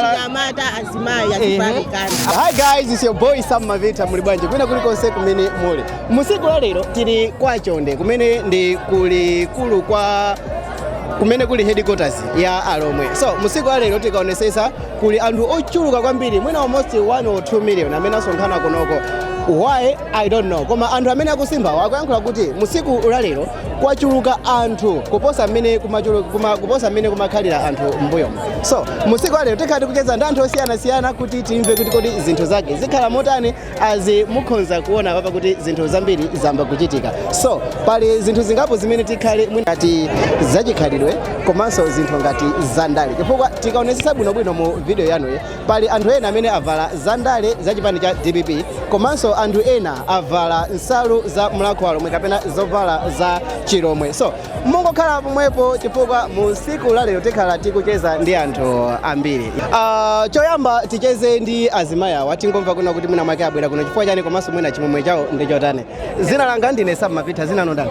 anyamata azimayi azifanikana Hi guys, it's your boy Sam Mavita muli bwanji kwina kuli konse kumene muli. Musiku la lero tili kwa Chonde kumene ndi kuli kulu kwa kumene kuli headquarters ya Alomwe. So musiku la lero tikaonesesa kuli anthu ochuluka kwambiri mwina almost 1 or 2 million amene asonkhana kunoko. Why? I don't know. Koma anthu amene akusimba akuyankhula kuti musiku la lero kwachuluka anthu kuposa mmene kumachulu- kuma- kuposa mmene kumakhalira anthu m'mbuyomu so musiku la lero tikhala tikucheza ndi anthu osiyanasiyana kuti timve kuti kodi zinthu zake zikhala motani azi mukhonza kuona apapa kuti zinthu zambiri zayamba kuchitika so pali zinthu zingapo zimene tikhale mwina ngati zachikhalidwe komanso zinthu ngati zandale chifukwa tikaonesesa bwinobwino mu video yanuyi Pali anthu ena amene avala zandale za chipani cha dpp komanso anthu ena avala nsalu za mulhako wa alomwe kapena zovala za chilomwe so mungokhala pomwepo chifukwa mu siku la lero tikhala tikucheza ndi anthu ambiri Ah, choyamba ticheze ndi azimayi awa tingomva kuna kuti mwina mwake abwera kuno chifukwa chani komanso mwina chimwemwe chawo ndi chotani zina langa ndine Sam Mavita zina lanu ndani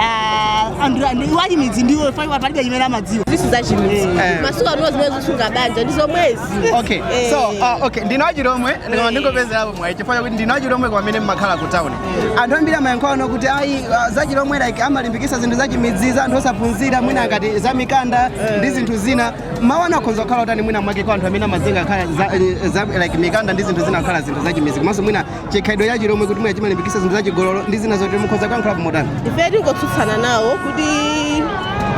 Ah, anthu anthu iwo achimidzi ndiwo faiwa palibe chimene amadziwa izi si zachimidzi Eh. masiku ano zimene zikusunga banja ndi zomwezi okay Eh. so uh, okay ndine wachilomwe ndikoma ndingopezerapo mwayi chifukwa chakuti ndine wachilomwe kwamene mmakhala ku town anthu ambiri amayankhulano kuti ayi uh, zachilomwe like amalimbikisa zinthu zachimidzi za anthu osaphunzira mwina ngati za mikanda ndi zinthu zina mawu anu akhonza kukhala otani mwina mwake kwa anthu amene amazinga khala za, za, like mikanda ndi zinthu zina kukhala zinthu zachimidzi komanso mwina chikhalidwe cha chilomwe kuti mwina chimalimbikitsa zinthu za chigololo ndi zina zotero mukhoza kuyankhulapo motani ife tingotsutsana nawo kuti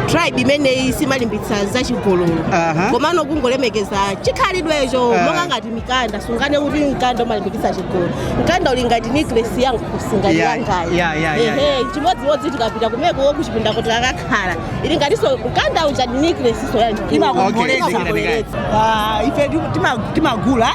tribe imeneyi simalimbitsa za chigololo Aha. komano kungolemekeza chikhalidwecho Ah. monga ngati mikanda sunganene kuti mkanda umalimbikitsa chigololo mkanda uli ngati necklace yangu kukhosi Yeah, yangayo yeah, yeah, yeah, ehe chimodzimodzi tikapita kumeneko kuchipinda kuti akakhala ili ngatinso mkanda uja necklace-nso yanji Okay, imakongoletsa zikilani kaya. Ah, ife tu- tima- timagula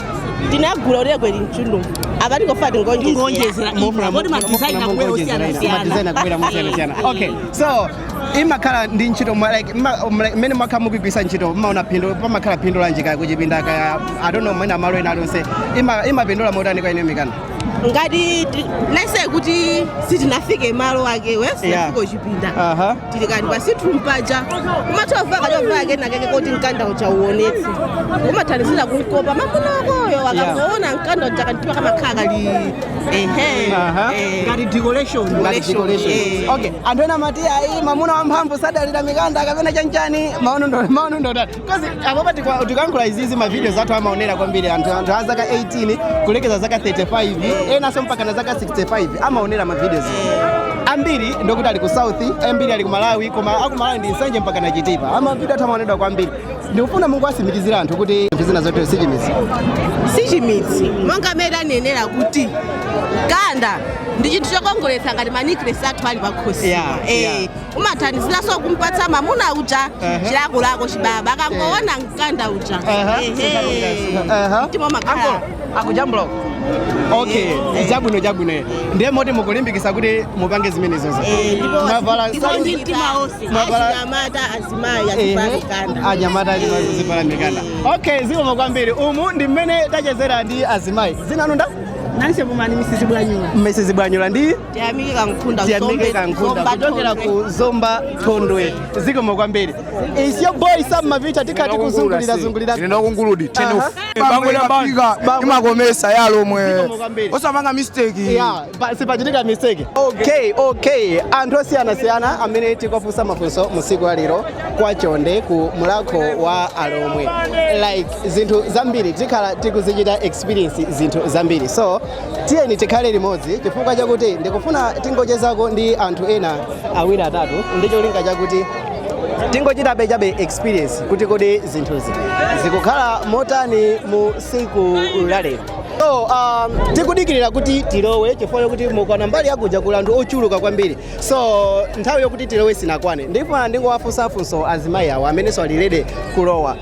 tinagula uregwe linchundu apa tingofuna tingoonjezera poti madizaina akubwera osiyanasiyana okay so imakhala ndi ntchito mwa- like mma- um, like, mmene mwakhala mukugwiritsa ntchito mmaona phindu pamakhala phindu lanji kaya kuchipinda kaya I don't know mwina malo ena alionse Ima- imapindula motani kwa inuyo mikanda ngati ti- lese kuti sitinafike malo akewo Yeah. sinafika kuchipinda Aha. tili kaye pa sitting room paja kumatovala kachovala kena keke koti mkanda uja uoneke kumathandizira kumkopa mamuna wakoyo akangoona mkanda uja kantima kamakhala kali ehe Aha. eh. Ngati decoration. Ngati decoration. eh. Okay, anthu ena amati ayi mamuna wamphamvu sadalira mikanda kapena chanchani maono anu ndi maono anu ndi otani. Because apapa tikwa- tikayankhula izizi mavidios athu amaonera kwambiri anthu anthu a zaka 18 kulekeza zaka 35 enanso mpaka na zaka 65 amaonera mavidios ambiri ndokuti ali ku south ambiri ali ku malawi koma kumalawi ndi nsanje mpaka na chitipa mavidio athu amaonedwa kwambiri ndikufuna mungowatsimikizira anthu kuti zinthu zina zotero sichimizi sichimidzi monga mmene tanenera kuti mkanda ndi chinthu chokongoletsa ngati manecklace athu ali pakhosi Yeah, yeah. umathandiziranso kumpatsa mamuna uja chilakolako chibaba akangoona mkanda uja mtima umakhala akujambula uko okay zabwino zabwino ndiye moti mukulimbikitsa kuti mupange zimenezozo mwavala ndipo ndi mtima wonse Mwavala- achinyamata azimayi azivala mikanda anyamata azivala mikanda okay zikomo kwambiri umu ndi mmene tachezera ndi azimayi dzina ndinu ndani nanse mumani misisi bwanyula misisi bwanyula ndi tiyamike kankhunda tiyamike kankhunda kuchokera ku zomba thondwe zikomo kwambiri it's your boy sam mavita tikati kuzungulira zungulira ino kunguludi imakometsa yalomwe osapanga mistake sipachitika mistake okay okay anthu osiyanasiyana amene tikuwafunsa mafunso musiku la lero kwa Chonde ku mulakho wa alomwe like zinthu zambiri tikhala tikuzichita experience zinthu zambiri so tiyeni tikhale limodzi chifukwa chakuti ndikufuna tingochezako ndi anthu ena awiri atatu ndi cholinga chakuti tingochitabe chabe experience kuti kodi zinthuzi zikukhala motani mu siku lalero so um, tikudikirira kuti tilowe chifukwa chakuti mukaona mbali yakuja kuli anthu ochuluka kwambiri so nthawi yokuti tilowe sinakwane ndifuna ndingowafunsa funso azimayi awo amenenso alidelay kulowa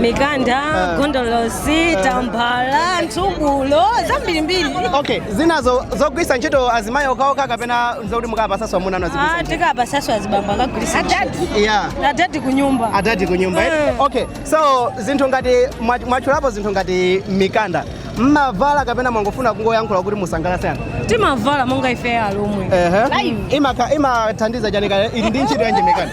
mikanda ah. gondolosi ah. tambala nthubulo zambirimbiri okay zinazo zogwiritsa ntchito azimayi okhaokha kapena zokuti mukapatsaso amuna anu ah, tikapatsaso azibambo akagwiritsa adadi kunyumba adadi kunyumba eh? eh. okay so zinthu ngati mwatchulapo zinthu ngati mikanda mmavala kapena mwangofuna kungoyankhula kuti musangalatse anthu timavala monga ife alomwe imathandiza chani kaya ili ndi ntchito yanji mikanda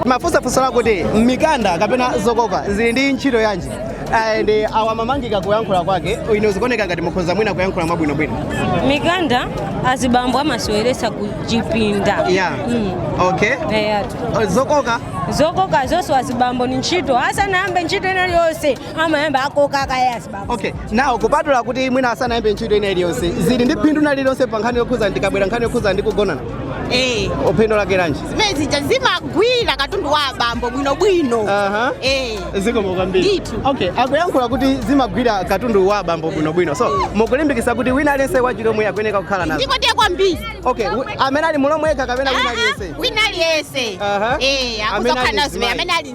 ndimafunsa funso lakuti mikanda kapena zokoka zili ndi ntchito yanji and awa amamangika kuyankhula kwake inu zikuoneka ngati mukhoza mwina kuyankhula mwabwinobwino mikanda azibambo amaseweretsa ku chipinda yeah. Mm. okay eyatu Eh, zokoka zokoka zonse azibambo ni ntchito asanayambe ntchito ina yonse amayamba akoka kaye azibambo okay now kupatula kuti mwina asanayambe ntchito ina iliyonse zili ndi phindu lina lililonse pa nkhani yokhuza ndikabwera nkhani yokhuza ndi kugonana eh phindu lake lanji zimene zija zimagwira katundu wa abambo bwinobwino Aha. eh zikomo kwambiri Ndithu. okay akuyankhula kuti zimagwira katundu wa abambo bwinobwino so mukulimbikitsa kuti wina aliyense wachilomwe akuyeneka kukhala nazo ndipo ndiye kwambiri okay wi- amene ali mulomwe yekha kapena wina aliyense wina aliyense Aha. eh Amene ali akuzokhala zimene mzimayi. amene ali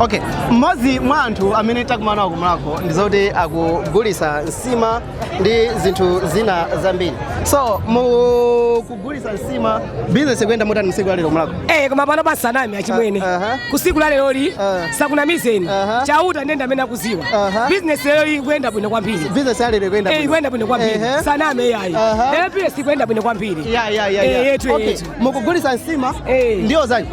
okay mmodzi mwa anthu amene takumana nawo kumulako ndi zoti akugulisa nsima ndi zinthu zina zambiri so mukugulisa nsima bizinesi ikuyenda motani m'tsiku lalero mulako Eh, koma pano osanama achimwene Aha. kutsiku la leroli Ah. ndisakunamizeni Aha. chauta Ndende amene akudziwa Aha. bizinesi lero ikuyenda bwino kwambiri bizinesi yalero ikuyenda Eh, bwino. ikuyenda bwino kwambiri Ehe. sindiname iyayi Aha. lero bizinesi ikuyenda bwino kwambiri ya ya ya Eh, ya yetu, okay yetu. mukugulisa nsima Eh. ndiyo zanji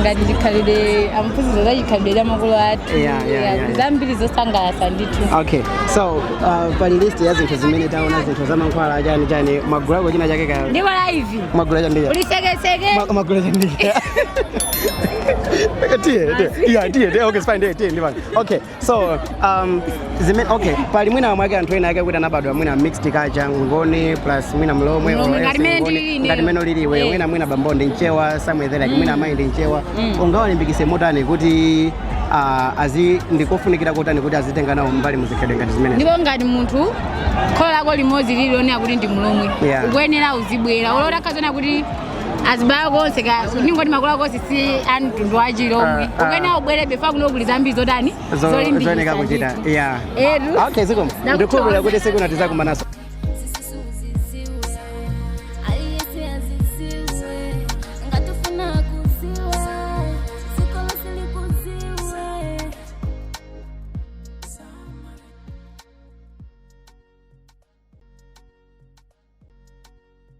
ngati chikhalidwe amphunzitsa za chikhalidwe cha makolo athu Yeah, yeah, yeah, yeah. zambiri zosangalatsa ndithu okay so uh, pali list ya zinthu zimene taona zinthu za mankhwala chani chani mwagulako china chake ka ndipo liti mwagula chani chani? ulisekeseke Ma- mwagula chani chani? tiye tiye yeah tiye tiye okay it's fine tiye tiye ndivani okay so um, zimene okay pali mwina mwake anthu ena ake kuti anabadwa mwina mixed culture ngoni plus mwina mlomwe Mlomwe, or ngati else mene Ngoni, ndili ine. ngati mmene ulili iwe Eh. mwina mwina bambo ndi mchewa somewhere there like mwina amayi ndi mchewa ungawalimbikise motani kuti ah, azi ndi kofunikira kotani kuti azitenga nawo mbali muzikhalidwe ngati zimenezi ndipo ngati munthu kholo lako limodzi lili lonena kuti ndi mlomwe Yeah. ukuyenera uzibwera olo utakhala zoona kuti azibambo akonso ndi ngoni makolo ako onse si a mtundu wachilomwe Ah, ah. ukuyenera ubwere befaya kuno kuli zambiri zotani Zo- zooneka kuchita yeah edu okay zikomo Nakuthokoza. ndikukhulupirira kuti tsiku lina tidzakumananso